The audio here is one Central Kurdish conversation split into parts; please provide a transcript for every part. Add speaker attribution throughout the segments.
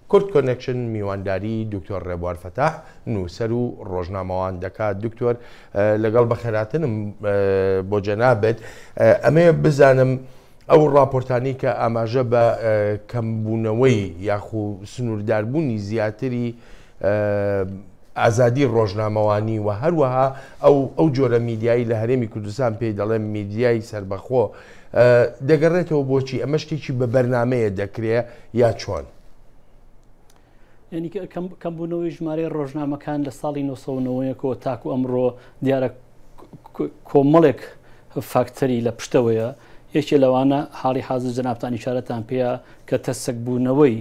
Speaker 1: کورد کۆنێکشن میوانداری دکتۆر ڕێبوار فەتاح نووسەر و ڕۆژنامەوان دەکات دکتۆر لەگەڵ بەخێراتنم بۆ جەنابێت ئەمێ بزانم ئەو ڕاپۆرتانی کە ئاماژە بە کەمبوونەوەی یاخو سنوورداربوونی زیاتری ئازادی ڕۆژنامەوانی و هەروەها ئەو ئەو جۆرە میدیایی لە هەرێمی کوردستان پێی دەڵێن میدیای سربەخۆ دەگەڕێتەوە بۆچی ئەمە شتێکی بە بەرنمەیە دەکرێ یا چۆن؟
Speaker 2: ینی کەمبوونەوەی ژمارەی ڕۆژنامەکان لە ساڵی 1990ەوە تاکو ئەمڕۆ دیارە کۆمەڵێک فاکتەری لە پشتەوەیە یەکێ لەوانە حاڵی حاضر جەنابان نیشارەتان پێەیە کە تەسەک بوونەوەی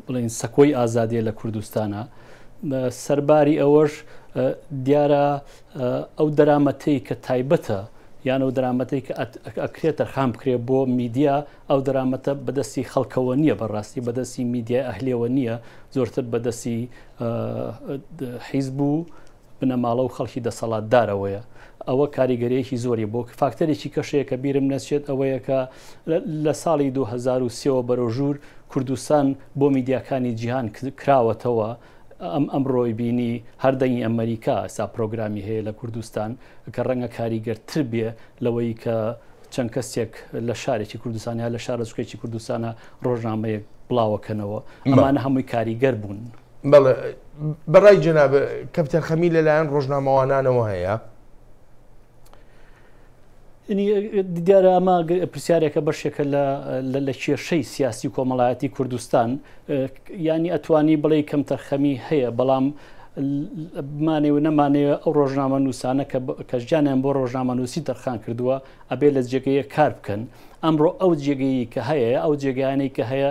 Speaker 2: بڵێین سەکۆی ئازادیە لە کوردستانە سەرباری ئەوەش دیارە ئەو دەرامەتەی کە تایبەتە یان ئەو دەرامەتی کە ئەکرێت تەرخان بکرێ بۆ میدیا ئەو دەرامەتە بەدەستی خەڵکەوە نییە بەڕاستی بەدەستی میدیای ئەهلێەوە نییە زۆرتر بەدەستی حیز بوو بنەماڵە و خەڵکی دەسەڵاتدارەوەیە ئەوە کاریگەریەکی زۆری بۆ فاکتەرێکی کەش هەیە کە بیرم نەچێت ئەوەیە کە لە ساڵی دوو هەزار و سێ وە بەرەو ژوور کوردستان بۆ میدیاکانی جیهان کراوەتەوە ئەم ئەمڕۆی بینی هەر دەنگی ئەمەریکا ئێستا پرۆگرامی هەیە لە کوردستان کە ڕەنگە کاریگەرتر بێ لەوەی کە چەند کەسێک لە شارێکی کوردستان یا لە شارۆچکەیەکی کوردستانە ڕۆژنامەیەک بڵاوەکەنەوە ئەمانە هەمووی کاریگەر بوون. بەڵێ
Speaker 1: بەڕای جەناب کەپتەر خەمی لەلایەن ڕۆژنامەوانانەوە هەیە
Speaker 2: دیارە ئەمە پرسیارێکە بەشێکە لە کێشەی سیاسی کۆمەڵایەتی کوردستان ینی ئەتوانی بڵێ کەم تەرخەمی هەیە بەڵام بمانێ و نەمانێ ئەو ڕۆژنامە نووسانە کە ژیانیان بۆ ڕۆژنامە نووسی تەرخان کردووە ئەبێ لە جێگەیە کار بکەن ئەمڕۆ ئەو جێگەیی کە هەیە ئەو جێگەیانەی کە هەیە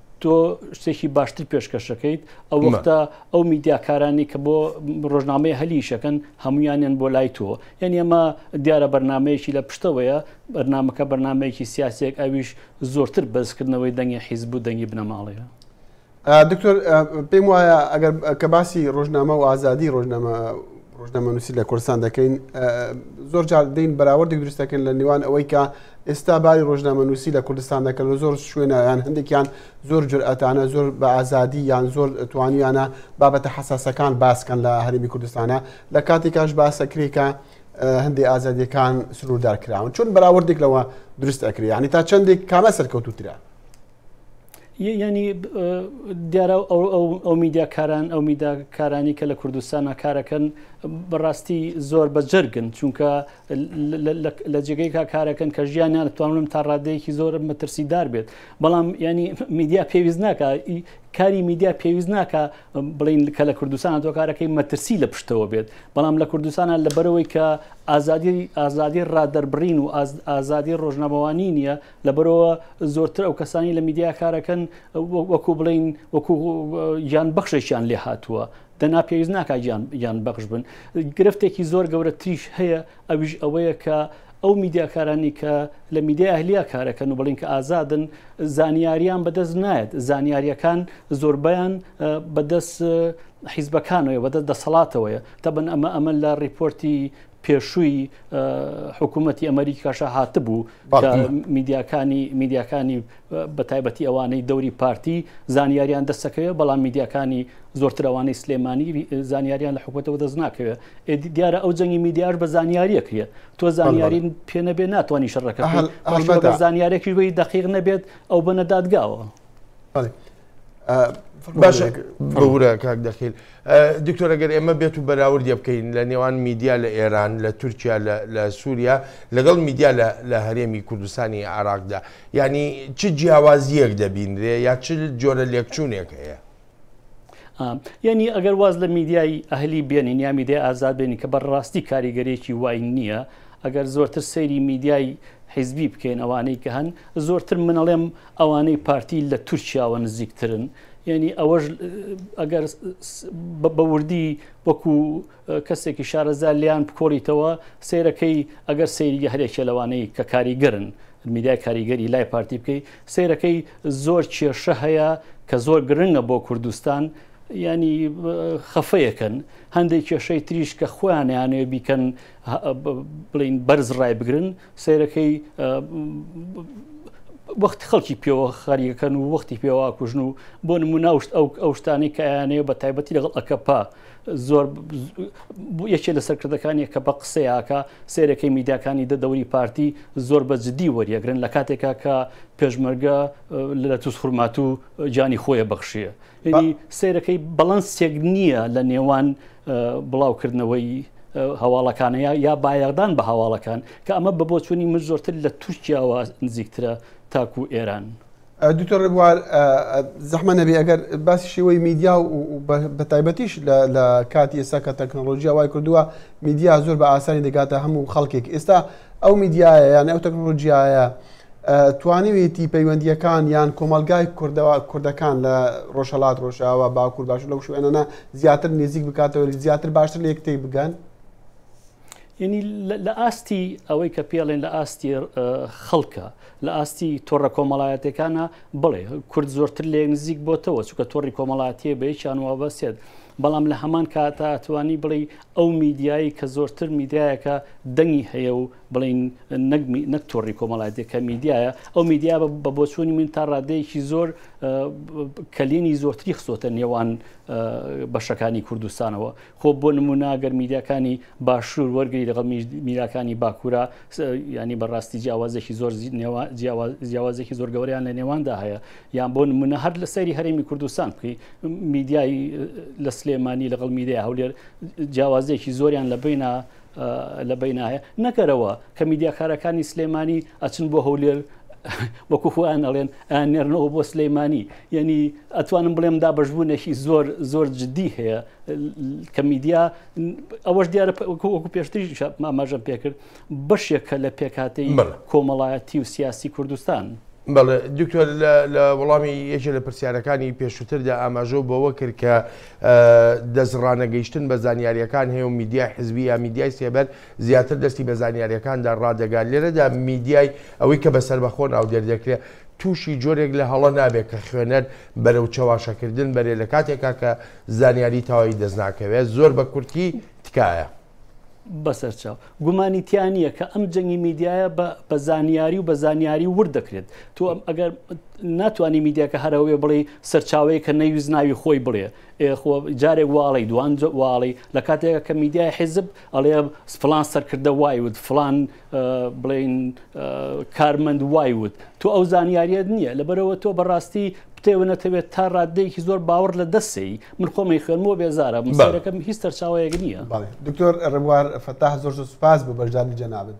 Speaker 2: تۆ شتێکی باشتر پێشکەشەکەیت ئەو وەختە ئەو میدیاکارانی کە بۆ ڕۆژنامەی هەلیشەکەن هەمویانیان بۆ لای تۆ یعنی ئەمە دیارە بەرنمەیەکی لە پشتەوەیە بەرنمەکە بەرنمەیەکی سیاسێک ئەویش زۆرتر بەزکردنەوەی دەنگی حیزب و دەنگی بنەماڵەیە دکتۆر
Speaker 3: پێم وایە ئەگەر کە باسی ڕۆژنامە و ئازادی ڕۆژنامە ڕۆژنامەنووسی لە کوردستان دەکەین زۆر جار دەین بەراوردێک دروست دەکەن لە نێوان ئەوەی کە ئێستا باری ڕۆژنامەنووسی لە کوردستان دەکەن لە زۆر شوێنیان هەندێکیان زۆر جورئەتانە زۆر بە ئازادی یان زۆر توانیانە بابەتە حساسەکان باسکەن لە هەرمی کوردستانە لە کاتی کاش باسەکرێکە هەندێک ئازادیەکان سنووردار کراون چون بەراوردێک لەوە دروست ئەکرێ ینی تا چندێک کامە سەرکەوتوترە
Speaker 2: یعنی دیارە ئەو میدیاکاران ئەو میداکارانی کە لە کوردستانە کارەکەن بەڕاستی زۆر بەجەرگن چونکە لە جێگەی کا کارەکەن کە ژیانیان توانم تا ڕادەیەکی زۆر مەترسیدار بێت بەڵام ینی میدیا پێویست ناکە کاری میدیا پێویست ناکە بڵین کە لە کوردستانە تۆکارەکەی مەترسی لە پشتەوە بێت بەڵام لە کوردستانە لەبەرەوەی کە ئازادی ئازادی ڕادەربڕین و ئازادی ڕۆژنامەوانی نییە لەبەرئەوە زۆرتر ئەو کەسانی لە میدیا کارەکەن وەکو بڵین وەکو یان بەخشێکیان لێ هاتووە دەنا پێویست ناکە یان بەخش بن گرفتێکی زۆر گەورە تریش هەیە ئەویش ئەوەیە کە ئەو میدیاکارانی کە لە میدیا ئەهلیا کارەکەن و بڵین کە ئازادن زانیاریان بەدەست نایەت زانیاریەکان زۆربیان بەدەست حیزبەکانەوەی بەدەست دەسەڵاتەوەیە تەبن ئەمە ئەمە لە ڕیپۆرتی پێشووی حکوومەتتی ئەمریکاشە هاتبوو میدیاکانی میدیاکانی بە تایبەتی ئەوانەی دەوری پارتی زانیاریان دەستەکەوێ بەڵام میدیاکانی زۆرترەوانەی سلێمانی زانیاریان لە حکوومەتەوە دەست ناکەوێت ئێدی دیارە ئەو جەنگی میدیاش بە زانیاریە کرێت تۆ زانیاری پێ نەبێ ناتوانانی شەڕەکە زانیارێکی بی دقیق نەبێت ئەو بەنەدادگاوە.
Speaker 1: باشە بەورە کاک دەخیل دکتۆرەگەر ئێمە بێت و بەراوردە بکەین لە نێوان میدیا لە ئێران لە تورکیا لە سووریا لەگەڵ میدیا لە هەرێمی کوردستانی عراقدا ینی چ جیاوازیەک دەبینرێ یا چ جۆرە لێکچوونێک هەیە
Speaker 2: یعنی ئەگەر واز لە میدیای ئەهلی بێنین یا میدیای ئازاد بێنی کە بەڕاستی کاریگەرێکی وای نییە ئەگەر زۆرتر سەیری میدیای حیزبی بکەین ئەوانەی کە هەن زۆرتر منەڵێم ئەوانەی پارتی لە تورکیاوە نزیکترن یعنی ئەوەش ئەگەر بە وردی وەکو کەسێکی شارەزا لیان بکۆڵیتەوە سیرەکەی ئەگەر سەیری هەرێکێ لەوانەی کە کاریگەرن میدای کاریگەری لای پارتی بکەی سیرەکەی زۆر کێشە هەیە کە زۆر گرنگە بۆ کوردستان ینی خەفەیەکەن هەندێک کێشەی تریش کە خۆیانیانێ بیکەن بڵین بەرز ڕای بگرن سیرەکەی وەخت خەڵکی پێوە خەریەکەن و وەختی پێوا کوژن و بۆ نموناوشت ئەو ئەو شتانی کە یانەیە بە تایبەتی لەگەڵ ئەکەپا زۆر یەکێ لە سەرکردەکانی کە بە قسەیاکە سێرەکەی میداکانی دەدەوری پارتی زۆر بە جددی وەریەگرن لە کاتێکا کە پێشمەرگە لە تووس خورمات و جانی خۆیە بەخشیە یعنی سەیرەکەی بەڵەنسێک نییە لە نێوان بڵاوکردنەوەی هەواڵەکانە یا بایەغدان بە هەواڵەکان کە ئەمە بە بۆچوونی من زۆرتر لە تورکیاوە نزیکترە تاکو ئێران. دکتۆر ڕێبوار
Speaker 3: زەحمە نەبێ ئەگەر باسی شێوەی میدیا و بە تایبەتیش لە کاتی ئێستا کە تەکنۆلۆژیا وای کردووە میدیا زۆر بە ئاسانی دەگاتە هەموو خەڵکێک ئێستا ئەو میدیایە یان ئەو تەکنۆلۆژیایە توانیوێتی پەیوەندیەکان یان کۆمەلگای کوردەوە کوردەکان لە ڕۆژهڵات ڕۆژاوە باکوور باش لەو شوێنەنا زیاتر نزیک بکاتەوە زیاتر باشتر لە یەکتی بگەن
Speaker 2: ینی لە ئاستی ئەوەی کە پێڵێن لە ئاستی خەڵکە لە ئاستی تۆڕە کۆمەڵایەتەکانە بڵێ کورد زۆرتر لێ نزیک بۆتەوە چکە تۆڕی کۆمەڵاتیە بەیکیان وابەسێت بەڵام لە هەمان کاتاتوانی بڵێ ئەو میدیایەی کە زۆرتر میدیایەکە دەنگی هەیە و بڵێین نەک نەک تۆڕی کۆمەڵایەتی کە میدیایە، ئەو میدیا بە بۆچوونی من تا ڕادەیەکی زۆر کەلێنی زۆرتری خستۆتە نێوان بەشەکانی کوردستانەوە خۆ بۆ نمونا گەر میدیاکانی باشوور وەرگری لەگەڵ میراکانی باکوورە ینی بەڕاستی جیاوازێکی زۆر جیاوازێکی زۆر گەوریان لە نێواندا هەیە یان بۆ نمونە هەر لە سەیری هەرێمی کوردستان بکەی میدیای لە سلێمانی لەگەڵ میدیای هەولێر جیاوازێکی زۆریان لە بینە لە بیناە نەکەرەوە کە میدیاکارەکانی سلێمانی ئەچن بۆ هەولێر وەکو خۆیان ئەڵێن ئەنێرنەوە بۆ سلەیمانی یعنی ئەتوانم بڵێم دا بەشبوونێکی زۆر زۆر جددی هەیە کە میدیا ئەوەش دیارە وەکو پێشتری ماماژەم پێکرد بەشێکە لە پێکهاتەی کۆمەڵایەتی و سیاسی کوردستان. بەڵێ دکتۆر
Speaker 1: لە وەڵامی یەکێ لە پرسیارەکانی پێشووتردا ئاماژۆ بەوە کرد کە دەستڕانەگەیشتن بە زانیاریەکان هەیە و میدیای حزبی یا میدیای سێبەر زیاتر دەستی بە زانیاریەکاندا ڕادەگات لێرەدا میدیای ئەوەی کە بەسەر بەخۆ ناو دەردەکرێت تووشی جۆرێک لە هەڵە نابێت کە خوێنەر بەرەو چەواشەکردن بەرێ لە کاتێکا کە زانیاری تەواوی دەست ناکەوێت زۆر بە کورتی تکایە. بەسەر
Speaker 2: چاو گومانی تیا نییە کە ئەم جەنگی میدیایە بە زانیاری و بە زانیاری ورد دەکرێت تۆ ئەم ئەگەر ناتوانانی میدیاکە هەرەوەێ بڵێ سەرچاوەیە کە نەویست ناوی خۆی بڵێ خۆ جارێک واڵی دوان واڵی لە کاتێکە کە میدیای حیزب ئەڵێ فلان سەرکردە وای وت فلان بڵێین کارمەند وای وت تۆ ئەو زانیاریت نییە لەبەرەوە تۆ بەڕاستی پتێوە نەتەوێت تا ڕاددەیەکی زۆر باوەڕ لە دەستی من خۆمی خوێنمەوە بێزارە مسەرەکەم هیچ
Speaker 3: سەرچاوەیەک
Speaker 2: نییە
Speaker 3: دکتۆر
Speaker 2: ڕێبوار
Speaker 3: فەتاح زۆر
Speaker 2: زۆر
Speaker 3: سوپاس بۆ بەشدانی جەنابێت